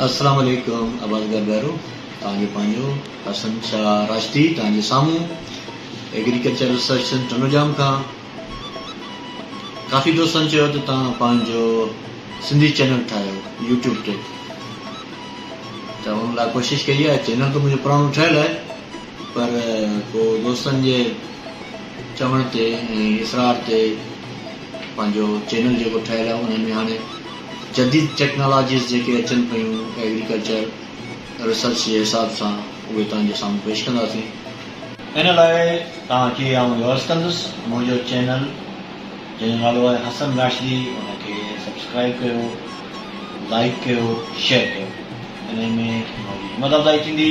السلام عليڪم عباس گرگارو توهان جو پنهنجو حسن شاهه راشدي توهان جي سامهون ايگريڪلچر ريسرچ سينٽر ٽنڊوڄام کان ڪافي دوستن چيو ته توهان پنهنجو سنڌي چينل ٺاهيو يوٽيوب تي ته ان لاء ڪوشش ڪئي آهي چينل ته منهنجو پراڻو ٺهيل آهي پر پوء دوستن جي چوڻ تي ۽ اصرار تي پنهنجو چينل جيڪو ٺهيل آهي ان ۾ هاڻي جديد ٽيڪنالاجيز جيڪي اچن پيون ايگريڪلچر ريسرچ جي حساب سان اهي توهان جي سامهون پيش ڪنداسين. ان لاء توهان کي آئون درس ڪندس. منهنجو چينل جنهن جو نالو آهي حسن راشدي ان کي سبسڪرائيب ڪيو لائيڪ ڪيو شيئر ڪيو انهي ۾ منهنجي همت افزائي ٿيندي.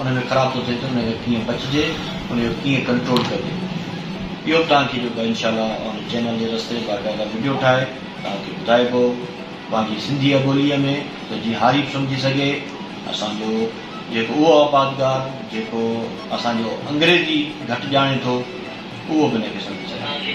ان ۾ خراب ٿو ٿئي ته ان کان ڪيئن بچجي ان جو ڪيئن ڪنٽرول ڪجي اهو به توهان کي جيڪو انشاء الله اوهان جي چينل جي رستي باقاعده وڊيو ٺاهي توهان کي ٻڌائبو پنهنجي سنڌي ٻولي ۾ ته جيئن هاري به سمجهي سگهي اسان جو جيڪو اهو آبادگار جيڪو اسان جو انگريزي گهٽ ڄاڻي ٿو اهو به ان کي سمجهي سگهي.